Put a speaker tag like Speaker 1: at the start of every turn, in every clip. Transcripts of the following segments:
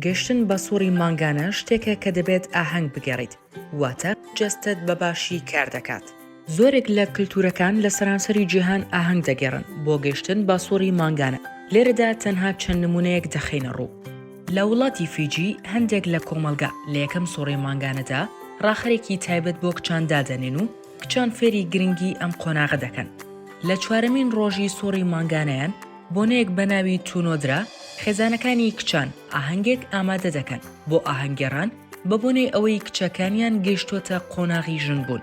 Speaker 1: گەشتن بە سوڕی مانگانە شتێکە کە دەبێت ئاهەنگ بگێڕیت، واتە جەستەت بە باشی کار دەکات. زۆرێک لە کلتوورەکان لە سەرانسەری جیهان ئاهەنگ دەگێڕن بۆ گەشتن بە سوڕی مانگانە، لێرەدا تەنها چەند نموونەیەک دەخەینە ڕوو. لە وڵاتی فیجی، هەندێک لە کۆمەڵگا لە یەکەم سوڕی مانگانەدا ڕاخەرێکی تایبەت بۆ کچان دادەنێن و کچان فێری گرنگی ئەم قۆناغە دەکەن. لە چوارەمین ڕۆژی سوڕی مانگانەیان، بۆنەیەک بە ناوی تونۆدرا، خێزانەکانی کچان ئاهەنگێک ئامادە دەکەن بۆ ئاهەنگگێڕان بە بۆنەی ئەوەی کچەکانیان گەیشتۆتە قۆناغی ژنبوون.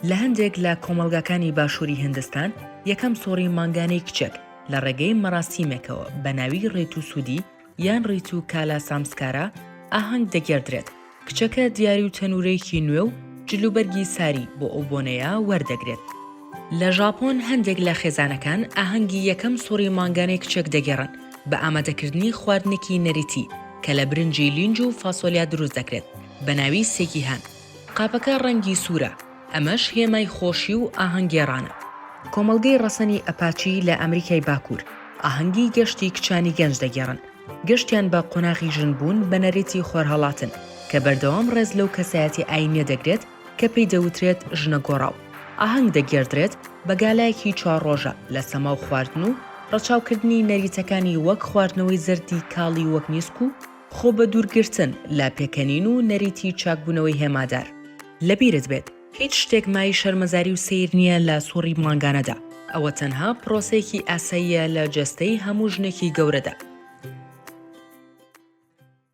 Speaker 1: لە هەندێک لە کۆمەڵگاکانی باشووری هندستان یەکەم سوڕی مانگانەی کچێک لە ڕێگەی مەراسیمێکەوە بە ناوی ڕێتوسودی، یان ڕیتو کالا سامسکارا ئاهەنگ دەگێڕدرێت، کچەکە دیاری و تەنوورێکی نوێ و جلوبەرگی ساری بۆ ئەو بۆنەیە وەردەگرێت. لە ژاپۆن هەندێک لە خێزانەکان ئاهەنگی یەکەم سوڕی مانگانەی کچێک دەگێڕن بە ئامادەکردنی خواردنێکی نەریتی کە لە برنجی لینج و فاسۆلیا دروست دەکرێت بە ناوی سێکیهان. قاپەکە ڕەنگی سوورە. ئەمەش هێمای خۆشی و ئاهەنگێڕانە. کۆمەڵگەی ڕەسەنی ئەپاچی لە ئەمریکای باکوور، ئاهەنگی گەشتی کچانی گەنج دەگێڕن. گەشتیان بە قۆناغی ژنبوون بە نەریتی خۆرهەڵاتن، کە بەردەوام ڕێز لەو کەسایەتی ئایینیە دەگرێت کە پێی دەوترێت ژنە گۆڕاو. ئاهەنگ دەگێڕدرێت بە گالایەکی چوار ڕۆژە لە سەما و خواردن و ڕەچاوکردنی نەریتەکانی وەک خواردنەوەی زەردی کاڵی وەک نیسک و، خۆ بە دوورگرتن لە پێکەنین و نەریتی چاکبوونەوەی هێمادار. لەبیرت بێت هیچ شتێک مایەی شەرمەزاری و سەیر نییە لە سوڕی مانگانەدا، ئەوە تەنها پرۆسەیەکی ئاساییە لە جەستەی هەموو ژنێکی گەورەدا.